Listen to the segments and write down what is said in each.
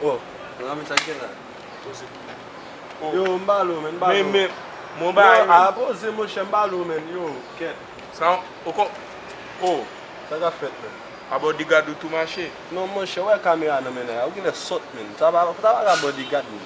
Bon, mwen renmen sa k gen la. Poze. Yo, m ba l ou men, m ba l ou. Men, men, mwen bay ou. Non, a, poze monchè, m ba l ou men, yo, kèt. Sa w, ou kon, o. Sa k ap fèt men? A bodigad ou tou mache? Non monchè, ou wè kamera nan men nèg la, ou genlè sòt men. Sa pa, sa pa ka bodigad men.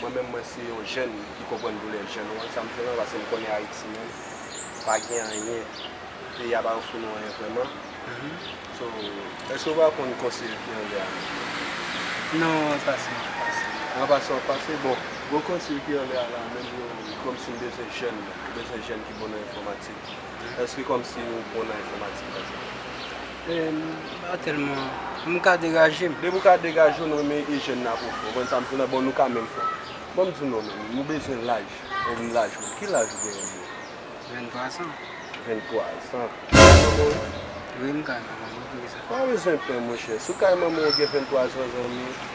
Mwen menm mwen se yon jèn ki konprann doulè jèn wan sa m fè lan paske m konnen ayiti menm pa gen anyen peyi a pa ofri nou anyen vrèman so èske ou pa konn konseye fi anglè a menm non nan wan pase wan pase wan pase wan pase bon mwen konseye fi anglè a la menm yo kòmsi m bezwen jèn menm m bezwen jèn ki bon nan enfòmatik èske kòmsi ou bon nan enfòmatik pa ekzanp. Ba telman M ka degaje m. Depi w ka degaje w nan men ijèn nan pou w fè w. Konn sa m di w la, bon nou ka menm fè w. Bon m di w non men, nou bezwen laj. Ou menm laj ou. Ki laj ou genyen menm? Ventwa zan. Ventwa zan. Ou kay manman w ye? Wi m kay manman m wi poukisa? Pa bezwen pè monchè. Si w kay manman w ou gen ventwa zan zanmi.